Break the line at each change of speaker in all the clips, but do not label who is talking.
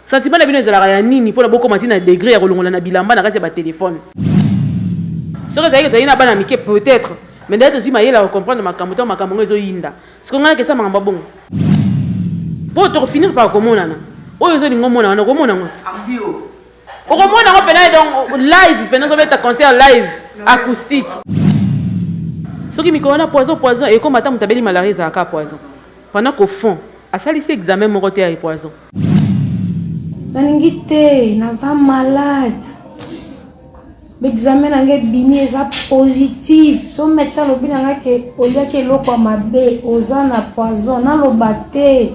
Sentiment na bino ezalaka ya nini pona bokoma ti na degre ya kolongola na bilamba na kati ya ba telephone? Soki ezalaki tozali na bana mike peut etre mais nde tozui mayele ya ko comprendre makambo tango makambo yango ezo yinda sikoyo ngai na kesa makambo ya bongo po toko finir par komonana oyo ezo lingo mona wana okomona ngo ti okomona ngo pena donc live pena ozobeta concert live acoustique soki mikolo wana poison poison ekoma ata moto abeli malaria ezalaka poison Pendant qu'au fond, asalisi examen moko te ya epoison. Nalingi
te, naza malade. Mais examen na nga ebimi eza positif. So medecin alobi na nga ke oliaki eloko ya mabe, oza na poison. Naloba te.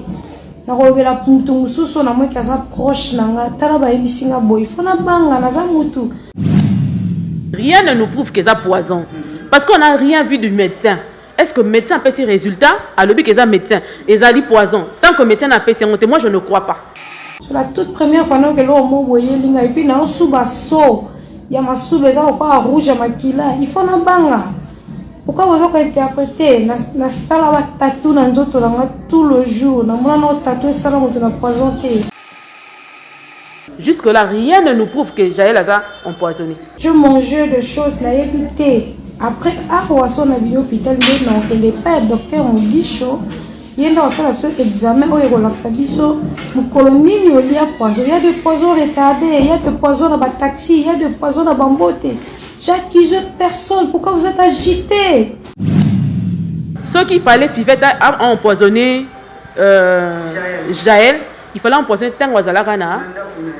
Nakolobela mutu mosusu na mwe ke aza proche na nga. Tala bayebisi nga boye. Faut nabanga, naza mutu.
Rien ne nous prouve que eza poison. Parce qu'on a rien vu du medecin. Est ce que medecin apesi resultat? Alobi que eza medecin. Ezali poison. Tant que medecin n'a pesi yango te, moi je ne crois pas. C'est la toute
première fois nayoka eloko moko boye eyeli ngai epuis naosuba so ya masuba eza lokola rouge ya makila il faut nabanga pourquoi boza kointerprete nasala batatu na nzoto na nga tout le jour namona nao tatu esala moto na poison te Jusque
là rien ne nous prouve que Jaël aza empoisonné. Je mangeais
de choses na yebité. Après ah waso na bio hôpital mais non que les pas docteur Mugisho ye nde asala biso examen oyo ekolakisa biso mokolo nini olia poison ya de poison retardé ya de poison na bataxi ya de poison na bambote j'accuse personne pourquoi vous êtes agité
soki fallait fivette a empoisonné euh, jael Il fallait empoisonner tango azalaka na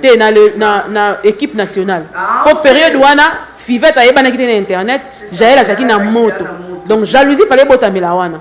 te na le na na equipe nationale po periode wana fivette ayebanaki te na internet jael azalaki na moto donc jalousie fallait ebotamela wana.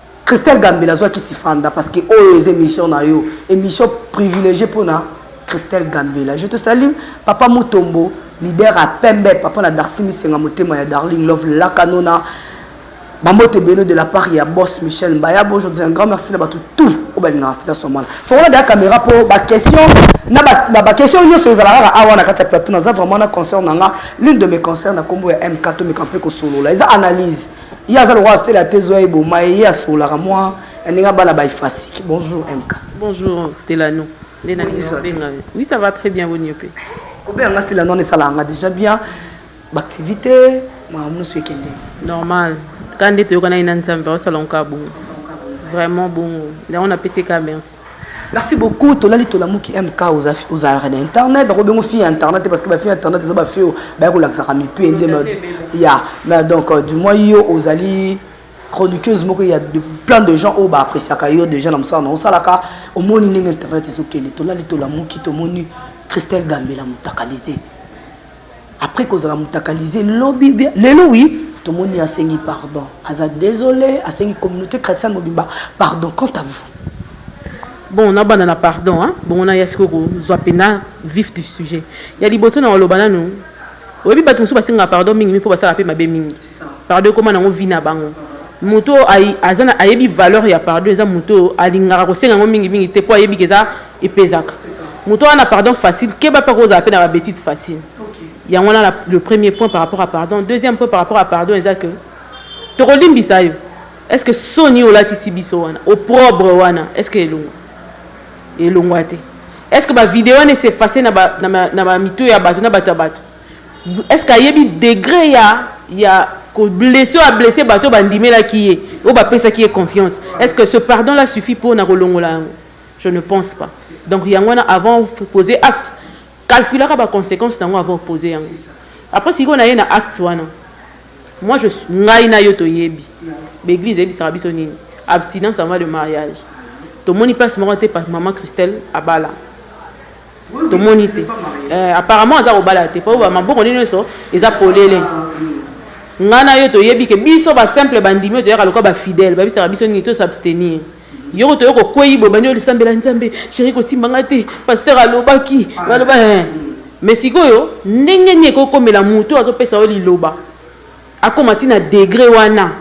Christelle Gambela zwa kiti fanda parce que oyo eza emission na yo emission privilegie pona Christelle Gambela je te salue papa Mutombo leader à pembe papa na Darcy Misenga motema ya darling love lakanona bambote ebele de la part ya boss Michel Mbaya bo je dis un grand merci na bato tout oyo balingaka Stella Somala fongola deya caméra mpo baquestion na baquestion nyonso ezala kaka awa na kati ya plateau naza vraiment na concert na nga l'une de mes concert na nkombo ya mk tomeka mpe kosolola eza analyse Ye aza lokola Stella te zoya eboma ye ye asolaka mwa na ndenge abala ba efasike. Bonjour MK. Bonjour Stellano.
Nde na lingi kobenga yo. Oui ça va très bien boni yo pe. Kobenga nga Stellano
wana esalaka nga déjà bien. Ba activité makambo nyonso ekende. Normal.
Kaka nde toyokanaki na Nzambe aosala ngo kaka bongo. Vraiment bongo. Yango napesi ye kaka merci. Merci beaucoup
tolali tolamuki MK ozalaka na internet nakobi yango fille ya internet te parce que bafille ya internet eza bafille oyo baye kolakisaka mipie nde ya mais donc euh, du moins yo ozali chroniqueuse moko ya de plein de gens oyo baappréciaka yo déjà na mosala na osalaka omoni ndenge internet ezokende tolali tolamuki tomoni christelle gambela motakalise après kozala mutakalise lobi bien lelo oui tomoni asengi pardon aza désolé asengi communauté chrétienne mobimba pardon quant à vous bon
nabanda na pardon hein? bongo naya sikoyo kozwa mpena vif du sujet ya liboso na koloba nanu oyebi bato mosusu basengaka pardon mingi mingi mpo basalaka mpe mabe mingi Pardon ekoma nango vie na bango. Moto oyo aza na ayebi valeur ya pardon eza moto oyo alingaka kosenga yango mingi mingi te po ayebi ke eza epezaka. Moto oyo aza na pardon facile keba pe ako zala pe na ba betises facile. Yango wana na le premier point par rapport à pardon. Deuxième point par rapport à pardon eza que toko limbisa yo est ce que soni olatisi biso wana opprobre wana est ce que elongua? Elongua te. Est ce que ba videos wana e s'effacer na ba na ba mitu ya batu na batu ya batu? Est ce que ayebi degre ya ya ko blesse oyo a blesse bato oyo bandimelaki ye oyo bapesaki ye confiance? Est ce que ce pardon là suffit po na kolongola yango? Je ne pense pas. Donc yango wana avant poser acte calculaka ba consequences na yango avant oposer yango. Après sikoyo na ye na acte wana moi je ngai na yo toyebi ba eglise eyebisaka biso nini abstinence avant le mariage tomoni place moko te maman Christelle abala tomoni te eh, apparemment aza kobala te mpo maboko nini nyonso eza polele ngai na yo toyebi ke biso basimple bandimi oyo toyaka lokola bafidèle babisaka biso nini tosabstenir yoko toyo kokwei boye bani olisambela nzambe sheri kosimba ngai te paster alobaki baloba eh. me sikoyo ndenge nini ekokomela motu azopesa yo liloba Akoma ti na degre wana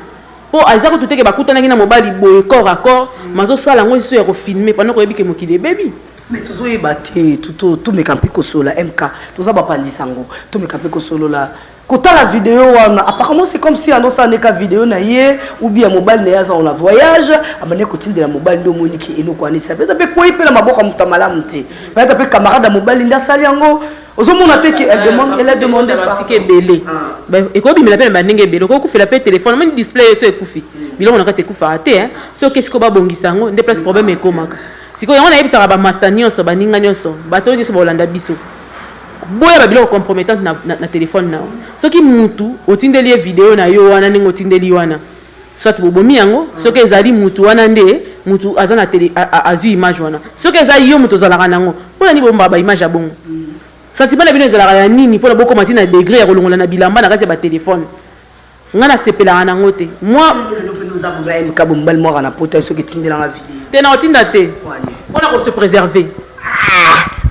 po aza kutu te ke bakutanaki na mobali boye corps à corps mais azosala yango lisusu ya ko filmer pendant que oyebi ke mokili ebebi. Mais tozoyeba
te tomeka mpe kosolola MK toza ba panzi sango tomeka mpe kosolola kotala video wana apparemment c'est comme si andosala nde ka video na ye ou bien mobali na ye aza na voyage abandaki kotindela mobali nde omoni ke eloko wana esala mpe ata mpe ekwei mpe na maboko ya moto ya malamu te mpe ata mpe camarade ya mobali nde asali yango ozomona te ke elle demande elle a demandé basika ebele
ekobimela mpe na bandenge ebele okoki kufela mpe telefone moni display eso ekufi biloko na kati ekufaka te soki esiko babongisa yango nde place problème ekomaka sikoyo yango nayebisaka bamasta nyonso baninga nyonso bato nyonso baolanda biso boya babiloko compromettante na, na, na telefone na yo soki mutu otindeli ye video na yo wana ndenge otindeli wana soit bobomi yango soki ezali mutu wana nde mutu aza na tele azui image wana soki eza yo mutu ozalaka nango pona nini bombaka ba image ya bongo sentiment na bino ezalaka ya nini pona bokoma ti na degre ya kolongola na bilamba na kati ya ba telefone nga nasepelaka nango te
mwa te na otinda te
pona ko se preserver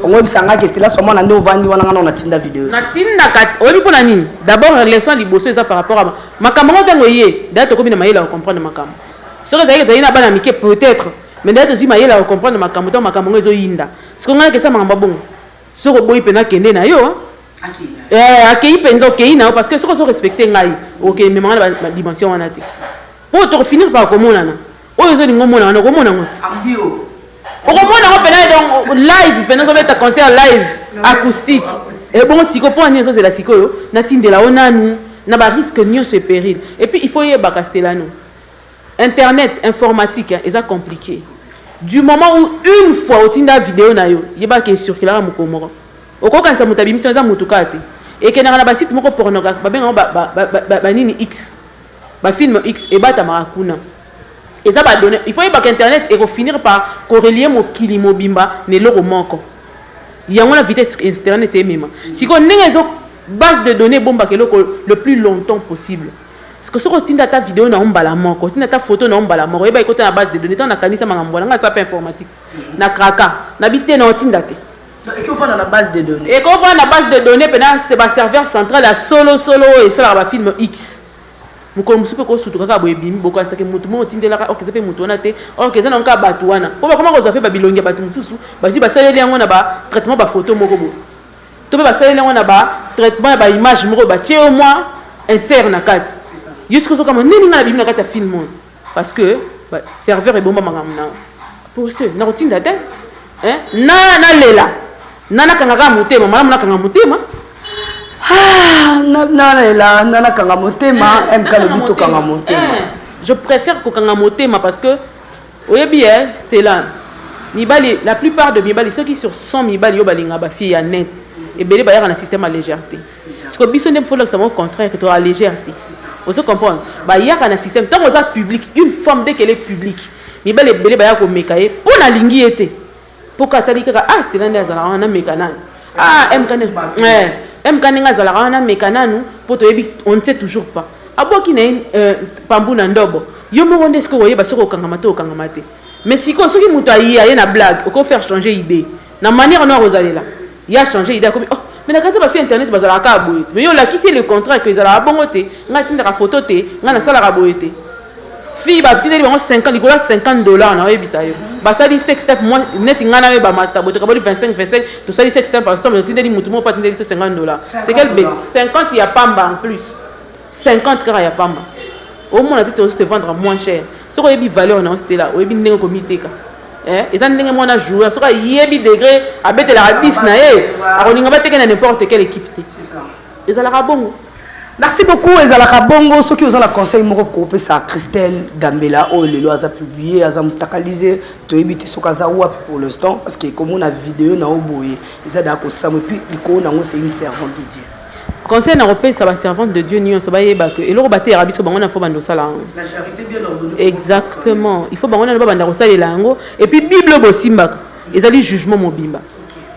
oyebisangaki estela swa mwana nde ovandi wana nga nao natinda video natindaka
oyebi mpo na nini d'abord leçon liboso eza par rapport a Makambo yango tango eye dejà tokomi na mayele ya ko comprendre makambo. Soki ezalaki tozalaki na bana mike peut etre mais dejà tozui mayele ya ko comprendre makambo tango makambo yango ezo yinda. Sikoyo ngai nakesa makambo ya bongo? Soki oboyi pena kende na yo hein. Eh akeyi penza okeyi na yo parce que soki ozo respecter ngai okende mema ngai na ba dimension wana te. Po toko finir par komonana. oyo ozali ngo mona wana okomona ngo ti
okomona ngo
pena donc live pena ozobeta concert live acoustique ebongo siko mpo ani ezozela sikoyo natindela o nanu na bariske nyonso epéril epuis il faut yebaka stelano internet informatique eza compliqué du moment où une fois otinda video na yo yebaka ecirculaka mokolo moko okokanisa moto abimisi eza motu kaka te ekendaka na basite moko pornographe babengaka banini x Ba film X ebatamaka kuna. Eza ba donnees. Il faut oyebaka internet eko finir par ko relier mokili mobimba na eloko moko. Yango wana vitesse internet emema. Sikoyo ndenge ezo base de donnees ebombaka eloko le plus longtemps possible. Sikoyo soki otindi ata video na yo mbala moko, otindi ata photo na yo mbala moko, yeba ekota na base de donnees. Tango na kanisa makambo wana, ngai nasala pe informatique, na craka. Na bi te, na otinda te. Donc eko vanda na
base de donnees. Eko vanda na base de donnees
pena c'est ba serveur central ya solo solo oyo esalaka ba film X. Mokolo mosusu mpe kosutuka kaka boye ebimi bokanisaki motu moko otindelaka orkestre mpe motu wana te orkestre eza na yango kaka bato wana mpo bakoma kozwa mpe babilongi ya bato mosusu bazwi basaleli yango na batraitement bafoto moko boye to mpe basaleli yango na batraitement ya baimage moko batie yo mwa insert na kati yo soki ozokama nini ngai nabimi na kati ya film oyo Parce que ba serveur ebomba makambo na pour ce nakotinda te hein na nalela na nakanga kaka motema malamu nakanga motema ah, na nalela na nakanga motema eh, mk lobi tokanga motema eh, je préfère kokanga motema parce que oyebi e eh, stela mibali la plupart de mibali soki sur 100 mibali yo balinga bafille ya net ebele bayaka na système ya légèreté Sikoyo biso nde faut lakisa bango contraire que to a légère te. Ozo comprendre? Ba yaka na système tango oza public, une femme dès qu'elle est public, mibali ebele baya ko meka ye po na lingi ye te. Po ka tali kaka ah Stella nde azala wana na meka nanu. Ah MK nde eh MK nde azala wana na meka nanu po to yebi on ne sait toujours pas. Abwaki na ye euh, pambu na ndobo. Yo moko nde sikoyo oyeba soko okangama to okangama te. Mais sikoyo soki moto aye aye na blague, oko faire changer idée. Na maniere no akozalela ye a change idee akomi oh mais na kanisa ba fille internet bazalaka kaka boye te mais yo olakisi ye le contraire que ezalaka bongo te nga na tindaka photo te nga na salaka boye te fille ba tindeli bango 50 likolo ya 50 dollars na oyebisa yo ba sali sex tape moi neti nga na yo ba masta boye tokaboli 25 25 to sali sex tape ensemble na tindeli mutu moko pa tindeli so 50 dollars c'est quel bébé 50 ya pamba en plus 50 kaka ya pamba omona te to se vendre moins cher soki oyebi valeur na yo stela oyebi ndenge komiteka Eh, eza ndenge mwana joueur soki ayebi degre abetelaka 10 na ye akolinga bateke na n'importe quelle équipe te ezalaka bongo merci beaucoup
ezalaka bongo soki oza na conseil moko kopesa christelle gambela oyo lelo aza publie aza mutakalise toyebi te soki aza wapi pour l'instant parce que komona video na yo boye eza daa kosamu epuis likolo nango c'est une servante de dieu Conseil na
kopesa ba servante de Dieu nionso ba yeba que eloko ba teyaka biso bango na faut bando sala yango. La charite bien
ordonnée. Exactement.
Il faut bango na ba banda kosalela yango et puis bible bosimbaka ezali jugement mobimba.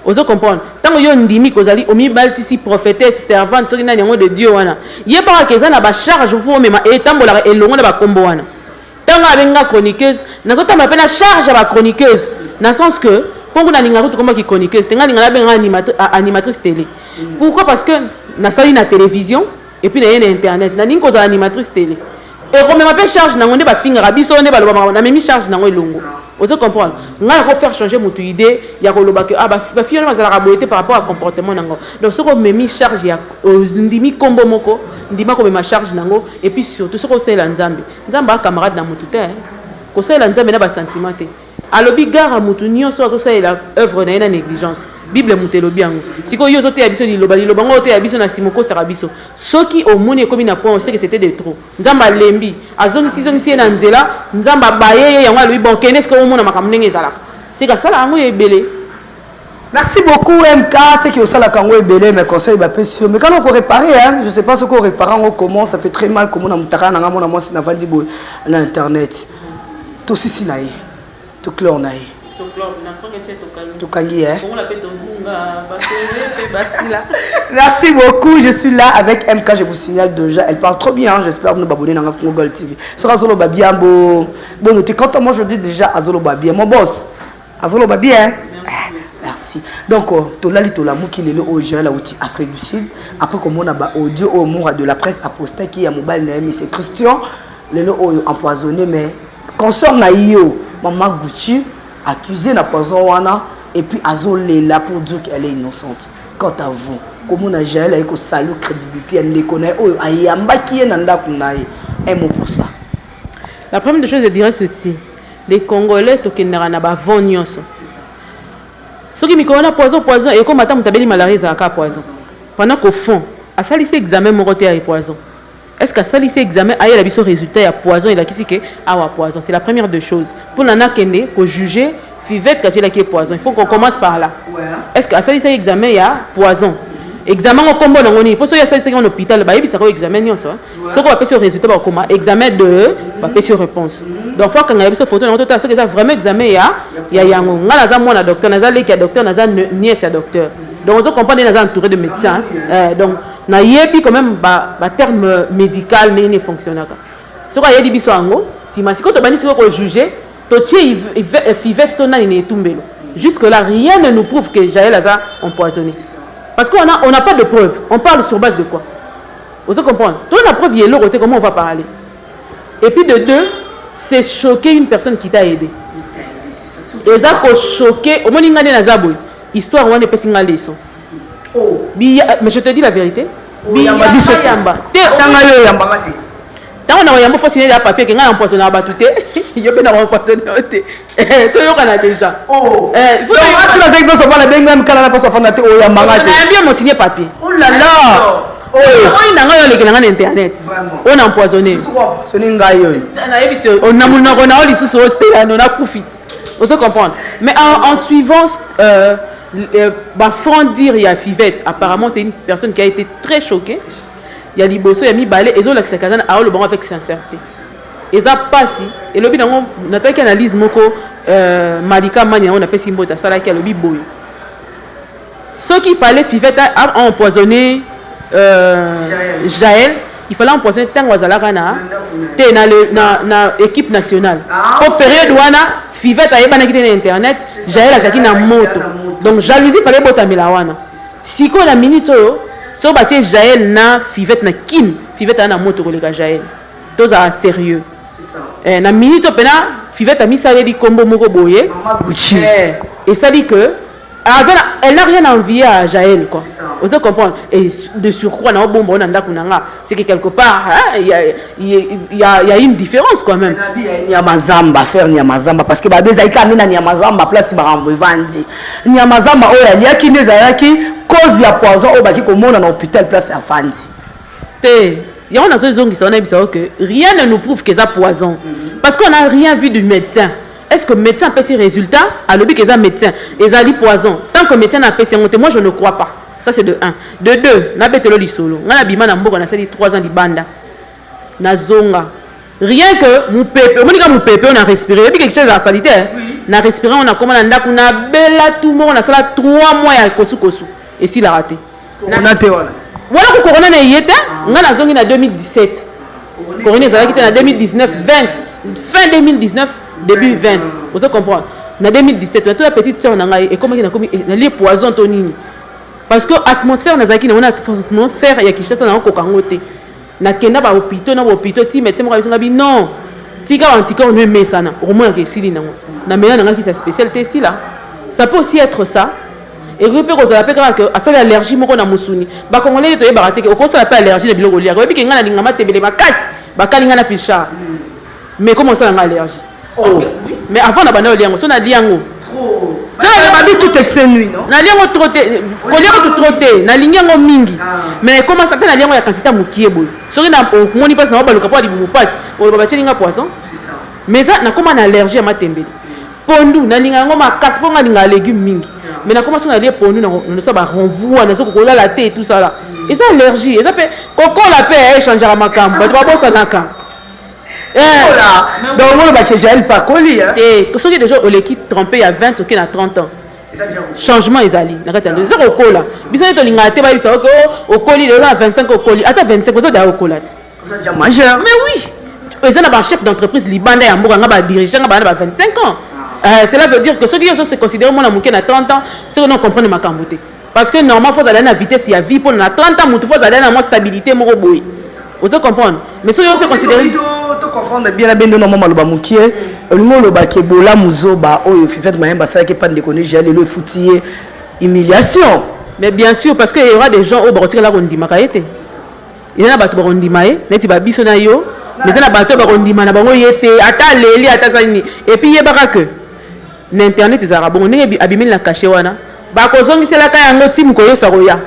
Ozo comprendre? Tango yo ndimi kozali omibaltisi prophetesse servante soki nani yango de Dieu wana. Yebaka que eza na ba charge faut omema etambolaka elongo na ba kombo wana. Tango abengi nga chroniqueuse, nazo tambola pe na charge ya ba chroniqueuse na sens que po ngo nalinga kutu koma ki chroniqueuse te nga linga nabenga animatrice, animatrice tele. Pourquoi? Parce que nasali na television et puis naye na internet. Nalingi kozala animatrice tele. Ekomema pe charge nango nde bafingaka biso nde baloba makambo namemi charge nango elongo. Ozo comprendre? Nga nako faire changer mutu idee ya koloba que ah ba ba fille wana bazalaka boye te par rapport à comportement nango. Donc soki omemi charge ya ondimi kombo moko ndima komema charge nango et puis surtout soki osalela Nzambe. Nzambe aza camarade na mutu te hein. Kosalela Nzambe na ba sentiment te. Alobi gara mutu nioso azo salela oeuvre naye na negligence. Bible mutu elobi yango. Sikoyo yo ozo teya biso liloba, liloba yango ozo teya biso na sima okosaka biso. Soki omoni ekomi na point oseke c'etait de trop. Nzambe alembi. Azongisi zongisi ye na nzela. Nzambe abaye ye yango alobi bon kende sikoyo omona makambo ndenge ezalaka. Seke asala yango ya ebele. Merci
beaucoup MK, c'est que osala kango ebele mais conseil ba pesi yo mais kana ko réparer hein, je sais pas ce qu'on répare ngo comment, ça fait très mal comment na mutaka na nga mona mwasi na vandi boy na internet. To sisi na ye. To clore na ye. To clore na ko ngete to kangi. To kangi hein. Bongo la pe to bunga, ba pe batila. Merci beaucoup, je suis là avec MK, je vous signale déjà, elle parle trop bien, hein, j'espère nous babonner dans Congo Gold TV. Sera Zolo Babiambo. Bon, tu quand moi je dis déjà à Zolo Babia, mon boss. azoloba bien hein? merci donc euh, tolali tolamuki lelo oyo joel auti afrique du sud après komona baaudio oyo mura de la presse apostaki ya mobali na ye mise christian lelo oyo empoisonné mais consort na yo mama gucci accusé na poison wana et puis azolela pour dire qu'elle est innocente quant à vous komona jael aye kosali crédibilité ya ndeko na ye oyo ayambaki ye na ndako na ye un mot pour ça la première
des choses je dirais ceci Les congolais tokendaka na ba vent nioso soki mikolo wana poison poison ekoma ata mutu abeli malaria ezalaka kaka poison pendant qu'au fond asalisi examen moko te ya e poison est ce que asalisi examen ayela biso resultat ya poison elakisi que awa poison c'est la première de choses pona nakende ko juger fivette kasi elaki e poison il faut qu'on commence par là est ce que asalisaki examen ya poison examen ngo kombo nango nini po soki asalisaki ngo na hôpital bayebisaka yo examen nionso soki bapesi yo résultat bakoma examen de bapesi yo réponse donc fo akangela biso foto nango totala soki eza vraiment examen ya ya yango ngai naza mwana docteur naza leki ya docteur naza nièce ya docteur donc ozo comprendre naza entouré de médecin euh, donc nayebi quand même baterme ba médical ndenge nini fonctionnaka soki ayebi biso yango nsima sikoyo tobandi sikoyo kojuge totie fivete to nani na etumbelo jusque là rien ne nous prouve que jael aza empoisonné parce qu'on a, on n'a pas de preuve on parle sur base de quoi Ozo comprendre? Toza na preuve ya eloko te comment on va parler? Et puis de deux, c'est choquer une personne qui t'a aide. Eza ko choquer, omoni nga nde naza boye. Histoire wana epesi nga leçon. Oh. Biya, mais je te dis la vérité. Oh, Biya biso yamba. Te tanga yo yamba ngate. Tango na yamba faut signer ya papier que nga empoisonner batu te. Yo pe na empoisonner te. Eh, toyokana déjà oh. eh, ati nazaki mpe sovana benga mikala na mposo afanda te oyo yambanga te nayambi amosigne papier olala oh oh. oyo na ngai oleki na ngai na internet oyo na empoisonne ngai oyo nayebisi oh, na monoko na yo lisusu oyo stelano nakufi ozo comprendre mais en, en suivant euh, euh, bafranc dire ya fivette apparemment c'est une personne qui a été très choquée ya liboso ya mibale ezolakisaka aza na aolobango avec sincèrete Eza pasi elobi na ngo natalaki analyse moko euh malika mania oyo napesi mbote asalaki alobi boye soki il fallait fivette a empoisonne euh jael il fallait empoisonne tango azalaka na te na, le, na, na équipe nationale po periode wana fivette ayebanaki te na internet jael azalaki na moto donc jalousie fallait botamela wana sikoyo na minute oyo soki batie jael na fivette na kin fivette aa na moto koleka jael tozala serieux eh, na minute oyo mpena fivete amisaleli nkombo moko boye eh, esali que aza na elle n'a rien envie à jael quoi ozo comprendre et de surcroît na obomba ona ndako na nga c'est que quelque part il y a, y, a, y a une différence quand même nyamazamba
faire nyamazamba parce que babe ezalaki ande na nyamazamba place barambo evandi nyamazamba oyo aliaki nde ezalaki cause ya poison oyo baki komona na hôpital place afandi te
yango nazo zongisa wana yebisa yo que rien ne nous prouve que eza poison parce qu'on a rien vu du médecin est ce que médecin apesi résultat alobi que eza médecin ezali poison tant que médecin apesi yango te moi je ne crois pas ça c'est de 1 de 2 nabetelo lisolo ngai nabima na mboka nasali 3 ans libanda nazonga rien que mopepe omoni ka mopepe oyo na respire yebi quelque chose ya salite eh? na respire yango nakoma na ndako nabela tu moko nasala 3 mois ya kosukosu esilaka te Corona te
wana. Wana ko corona na
eye te, ah. nga na zongi na 2017. Corona ezalaki te na 2019 20 fin 2019 début 20. Vous comprenez Na 2017, na to la petite sœur na ngai ekomaki na komi eh, na lie poison to nini. Parce que atmosphère nazalaki na wana atmosphère ya Kinshasa na ko kangote. Na kenda ba hopitaux na ba hopitaux ti medecin moko ayebisi nga bi non tika ba anticorps no emesana okomona ke esili nango na mela nanga kisi ya special te esila ça peut aussi etre ça ekoki pe kozala pe kaka ke asali allergie moko na musuni ba congolais nde toyebaka te ke okosala pe allergie na biloko oliaka oyebi ke nga na linga matembele makasi bakali nga na pilchard Mais comment ça, on a allergie Oh, oui. Mais avant, on a banal au liango. Si on a liango. Trop. Si on
a babi tout excès nuit, non Na liango trop te.
Ko liango tout trop te. Na liango mingi. Ah. Mais comment ça, na liango ya quantité mukie boy. Si on a au moni passe na oba lokapo di bubu passe. On va battre linga poisson. C'est ça. Mais ça, na comment on a allergie à ma tembele. Pondu, na linga ngo ma casse ponga linga légumes mingi. Mais na comment ça, on a lié pondu, na on ça va renvoie, na zo ko la thé et tout ça là. Et ça allergie. Et ça fait, koko la paix, eh, changera ma cam. Bah, tu vas bosser na cam. Eh,
donc oloba ke jael pakoli eh, te soki deja oleki
trompe ya 20 oke na 30 ans changement ezali na kati ya ndoto eza kokola biso nde tolingaka te bayebisa oke oh, okoli lelo na 25 okoli ata 25 oza daya okola te mais
oui
eza na bachef d'entreprise libanda ya mboka nga badirige nga baa na ba 25 ans ah. euh, cela veut dire que soki yo ozo se considere mwana moke na 30 ans soki no comprendre makambo te Parce que normalement faut aller na vitesse ya vie pona na 30 ans mutu faut aller na moi stabilité moko boye. Ozo comprendre? Mais soki on se considère to comprendre bien
na bendo na mama loba mukie olingi oloba ke bola muzoba oyo Fivette Mayemba asalaki epai ndeko ne Jael lelo efuti ye humiliation. Mais bien
sûr parce que il y aura des gens oyo bakotikala kondimaka ye te. Eza na bato bakondima ye neti babiso na yo mais eza na bato oyo bakondima na bango ye te ata aleli ata asali nini epuis yebaka que Na internet ezalaka bongo ndenge abimeli na cachet wana bako zongisela ka yango ti mokolo yesu akoya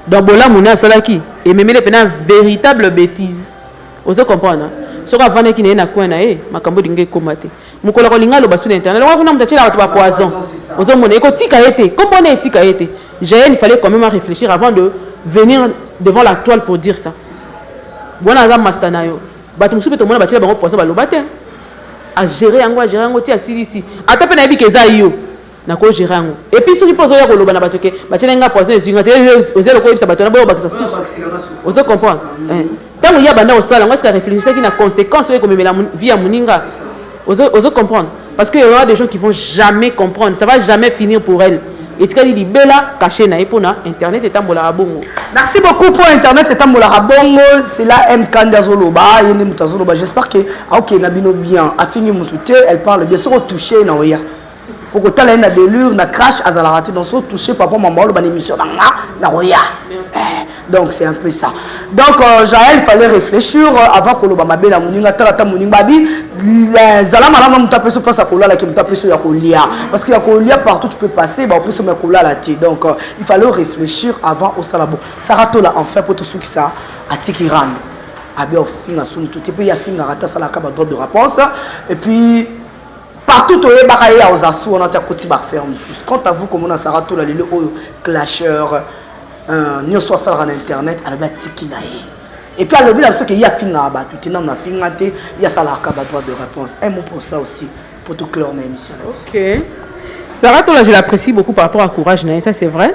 donc bolamu naye asalaki ememeli pena veritable betise ozo comprendre soki avandaki na ye na coin na ye makambo elingi ekoma te mokolo akolinga aloba su na internet longola kuna moto atyela bato ba poison ozomona ekotika ye te kombo wana etika ye te jael il fallait quand même réfléchir avant de venir devant la toile pour dire ça wana aza masta na yo Batu mosusu pe tomona batiela bango poison baloba te a gere yango a gere yango ti asilisi ata pe nayebi ke eza yo nako gere yango epuis soki pe ozoya koloba na batu ke batielaki nga poison ezui nga te oza eloko oyebisa batu wana boya kobakisa susu ozo comprendre tango ye abanda kosala yango eske areflechisaki na consequence oyo ekomemela vie ya moninga Ozo ozo comprendre parce que il y aura des gens qui vont jamais comprendre ça va jamais finir pour elle etikali libela cache na ye pona internet etambolaka bongo. Merci beaucoup pour
internet etambolaka bongo c'est là M Kanda azoloba ye nde moto azoloba j'espère que aokende na bino bien afingi moto te elle parle bien soki otouche na oya. okotala ye na delure na crash azalaka te donc so touche papa mama oloba na émission na nga nakoya eh, donc c'est un peu ça donc euh, jael fallait réfléchir euh, avant koloba mabe na moninga tala ata moninga babi zala malamu na moto apeso mpasi ya kolala ke moto apeso ya kolia parce que ya kolia partout tu peux passer baopeso ya kolala te donc euh, il fallait réfléchir avant osala bon sara tola enfin mpo tosukisa atiki rando abi ofinga soni to te mpe ye afingaka te asalaka badroit de réponse et puis Partout toyebaka ye aozasu wana te akoti ba affaire mosusu quant à vous komona sara tola lelo oyo clasheur euh, nyonso asalaka na internet alobi atiki na ye epuis alobi na biso ke ye afingaka bato te nano afinga te ye asalaka ba droit de réponse un mot pour ça aussi po toclore na émission okay.
sara tola je l'apprécie beaucoup par rapport à courage na ye ça c'est vrai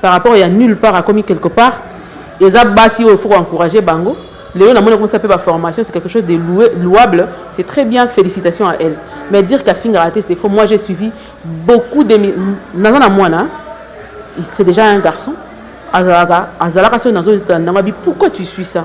par rapport ya nulle part akomi quelque part eza basi oyo faut encourager bango lelo na mona kosa pe ba formation c'est quelque chose de loué, louable c'est très bien félicitations à elle mais dire qu'à finga raté c'est faux moi j'ai suivi beaucoup de naza na mwana c'est déjà un garçon azalaka azalaka soki nazo tanda ngabi pourquoi tu suis ça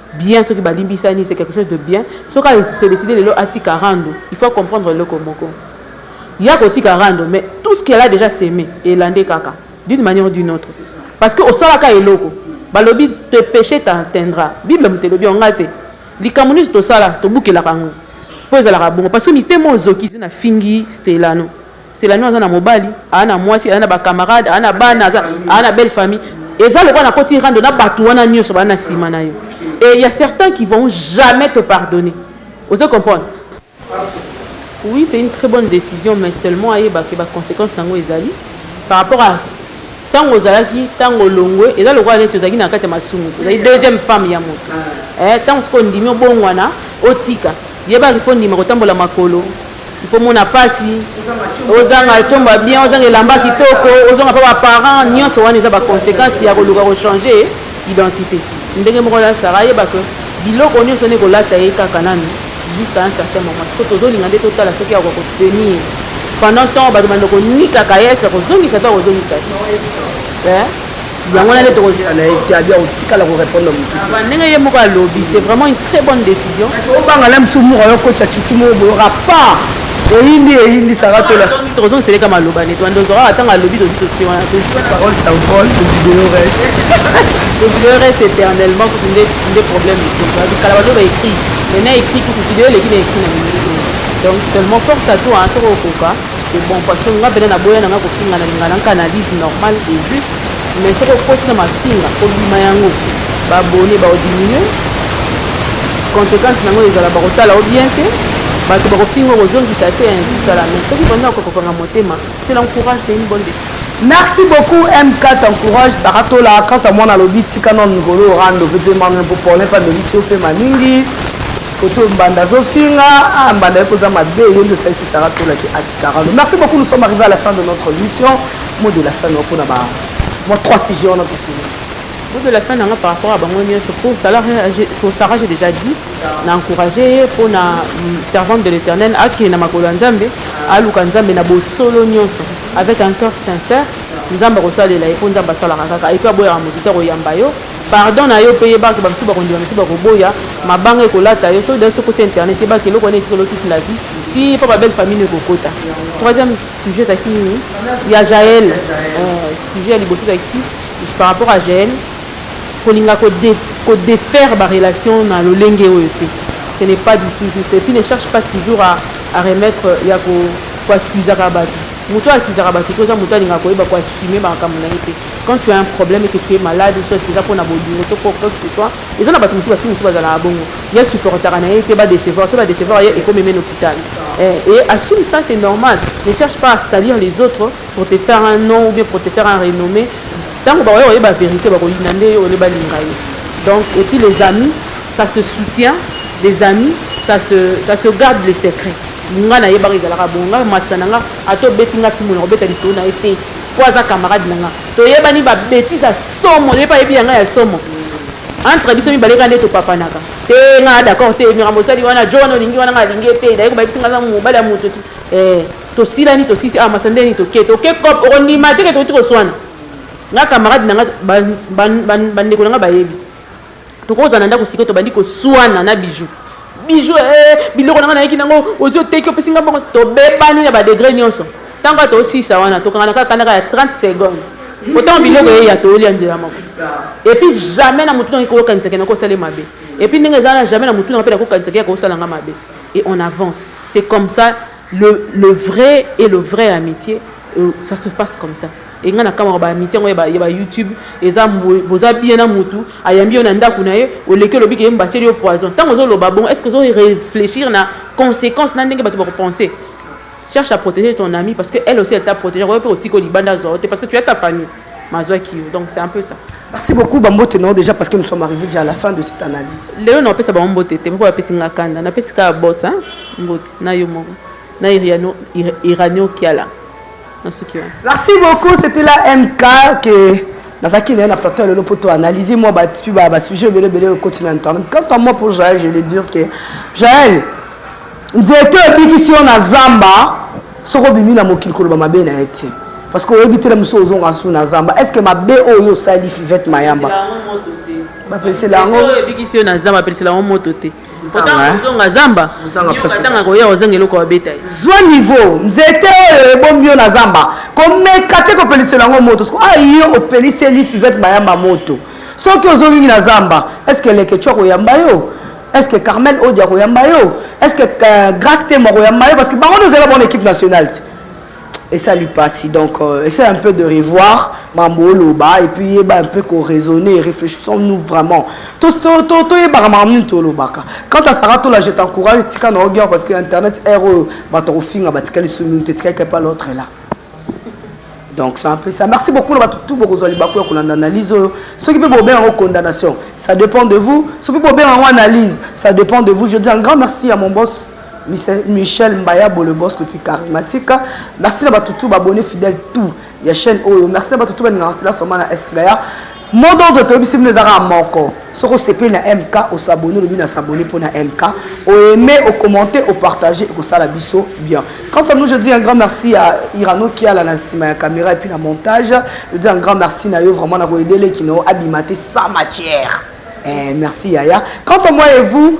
bien soki ba limbisani c'est quelque chose de bien soki a se decide lelo atika rando il faut a comprendre eloko moko ye ako tika rando mais tout ce qu'elle a dejà seme elande kaka d'une manière ou d'une autre parce que osalaka eloko balobi te peche t'atteindra bible moto elobi yango nga te likambo nyonso tosala tobukelaka yango mpo ezalaka bongo parce que mitema ozoki na fingi stelano Stelanion aza na mobali, aza na mwasi, aza na ba camarades, aza na bana, aza na belle famille. Eza lokola na koti rando na batu wana nioso ba na sima na yo. Et il y a certains qui vont jamais te pardonner. Ozo comprendre? Oui, c'est une très bonne décision, mais seulement ayeba que ba conséquences nango ezali par rapport à tango ozalaki tango longwe eza lokola neti ozalaki na kati ya masumu ozali deuxième femme ya moto eh, ntango soki ondimi obongwana otika yebaki fo ndima kotambola makolo Il faut mona pasi, ozanga chomba bien, ozanga elamba kitoko, ozanga pa ba parents, nionso wana eza ba consequences ya koluka ko changer identité. Ndenge moko na Sarah ayeba que biloko nionso ne kolata ye kaka nanu jusqu'à un certain moment. Siko tozolinga nde totala soki akoka ko tenir pendant temps bato bando konikaka ye eske akozongisa to akozongisa te eh? yango wana nde tokozela na ye te abi akotikala korepondre motu ndenge ye moko alobi c'est vraiment une très bonne décision obanga na biso moka yo kocha cuki moko boyoka pa eyindi eyindisaka tozongiseleka maloba neti wanda ozwaka ntango alobi tozi totie wana parole sa vol video reste video reste éternellement kutu nde problème kala bato baécrit mais na écrit kutu video eleki na écrit na mingi donc seulement force à toi soki okoka C'est bon parce que nga pena na boya nanga kofinga na linga nanga analyse normal et juste mais soki okoti na mafinga kobima yango babone baodiminue conséquence nango ezala bakotala o bien te bato bakofinga kozongisa te ezala mais soki banda okokokanga motema te na courage c'est une bonne décision Merci beaucoup
MK, t'encourage Sarah Tola. Quant à moi, on a l'obit, si canon, ngolo, rando, bébé, manon, pour parler, pas de l'issue, fait ma ningi. Koto mbanda azofinga ah mbanda yoko za mabe yende osalisi Sarah Tola ki atikaralo merci beaucoup nous sommes arrivés à la fin de notre mission mot de la fin noko na ba moi trois sujets on a pu finir mot de la fin nanga
par rapport à bango nyonso pour Sarah pour Sarah j'ai déjà dit na encourager ye mpo na mm, servante de l'éternel akende na makolo ya nzambe aluka nzambe na bosolo nyonso avec un cœur sincère nzambe akosalela ye mpo nzambe asalaka kaka epe aboyaka moto te akoyamba yo Pardon na yo pe yeba que ba misusu bako ndima misusu bako boya mabanga eko lata yo soki d'ailleurs soki okoti internet yeba que eloko wana etikali yo toute la vie ti epa ba belle famille no eko kota troisième sujet ezalaki nini ya jael sujet ya liboso ezalaki par rapport à jael ko linga ko de ko defaire ba relation na lolenge oyo te ce n'est pas du tout juste et puis ne cherche pas toujours à à remettre ya ko ko accusaka batu mutu oyo accusaka batu te oza mutu alinga koyeba ko assumer ba makambu na ye te. Quand tu as un problème et que tu es malade ou soit eza pona bolingo to po quoi que ce soit eza na batu mususu ba fille mususu bazalaka bongo ye supportaka na ye te ba decevoir so ba decevoir ye ekomi meme na hôpital eh, et assume ça c'est normal ne cherche pas à salir les autres pour te faire un nom ou bien pour te faire un renommé tango ba oye ba vérité ba koyina nde yo ole balinga ye donc et puis les amis ça se soutient les amis ça se ça se garde les secrets nga na ye baka ezalaka bongo nga masana nga ato beti nga kimona obeta lisolo na ye te po aza camarade na nga toyebani ba betise ya somo nayebi ayebi ya nga ya somo entre biso mibale kaka nde topapanaka te nga d'accord te mira mosali wana john olingi wana nga alingi te daye kobayebisi nga mobali ya moto eh, tosilani tosisi awa ah, masa ndeni toke toke cop okondima te ke tokoti koswana nga camarade na nga bandeko na nga bayebi tokozala na ndako sikoyo tobandi koswana na biju biju ee eh, biloko na ngai nayeki nango ozwi oteki opesi ngai mbongo tobebani na badegre nyonso ntango ata osisa wana tokangana kaka kanaka ya 30 seconde otango biloko eya toyoli ya nzela moko epuis jamais na motu nangai koyokanisaki nako osali mabe epuis ndenge eza na jamais na motu nanga mpe nakokanisaki ya kosala nga mabe et on avance c'est comme ça Le le vrai et le vrai amitie ça se passe comme ça et nga na kamwa ba amitie yango ya ba, ya ba YouTube eza boza bien na mutu ayambi yo na ndaku na ye oleki olobi ke yemba tieli yo poison tango ozo loba bon est-ce que ozo réfléchir na conséquence na ndenge batu bako penser cherche à protéger ton ami parce que elle aussi elle t'a protégé oyo pe otiko libanda zwa te parce que tu as ta famille mazwaki yo donc c'est un peu ça merci beaucoup bambote
nao déjà parce que nous sommes arrivés déjà à la fin de cette analyse lelo naopesa bango mbote
te mpo bapesi nga kanda napesi kaka bosa mbote na yo moko na iriano iranio kiala nasuki wana
merci beaucoup c'était la mk que nazalaki naye na plateau ya lelo mpo toanalyse mwa batu ba basujet ebele ebele okoti na internet quant à moi pour jael je le dire que jael nzete obikisi yo na zamba soki obimi na mokili koloba mabe na ye te parce que oyebi tele mosusu ozonga su na zamba est ce que mabe oyo yo osali fivete mayamba bapesela yango ebikisi yo na zamba bapesela
yango moto te Kotanga kozonga zamba Kotanga koya kozanga eloko babeta ye zwa niveau
nzete oyo ebombi yo na zamba komeka te kopelisela yango moto siko ah, yo opeliseli fivete mayamba moto soki ozongi na zamba eske eleketio akoyamba yo eske carmel odi akoyamba yo eske euh, grace temo akoyamba yo parce que bango nde ozali na bango na équipe nationale te esali pasi donc euh, essaie un peu de revoir mambo oloba et puis yeba un peu ko raisonner réfléchissons nous vraiment to to to to yeba makambo nini tolobaka quant à Sarah Tola je t'encourage tika na ogior parce que internet erreur oyo bato kofinga batikali sous minute etikali kepa l'autre là donc c'est un peu ça merci beaucoup na bato tout bokozwa libaku ya kolanda analyse oyo soki mpe bobenga yango condamnation ça dépend de vous soki mpe bobenga yango analyse ça dépend de vous je dis un grand merci à mon boss Michel Mbayabo le boss le plus charismatique merci na bato tout babonne fidèle tout ya chaîne oyo merci na bato tout balingaka stela soma na esgaya mot d'ordre toyebisi bino eza kaka moko soki osepeli na mk osabone olobi na sabone mpo na mk oaime ocommente opartage ekosala biso bien quant à nous je dis un grand merci ya irano kiala na nsima ya caméra epuis na montage je dis un grand merci na yo vraiment na koyedele kino abima te sans matière eh, merci yaya quant à moi et vous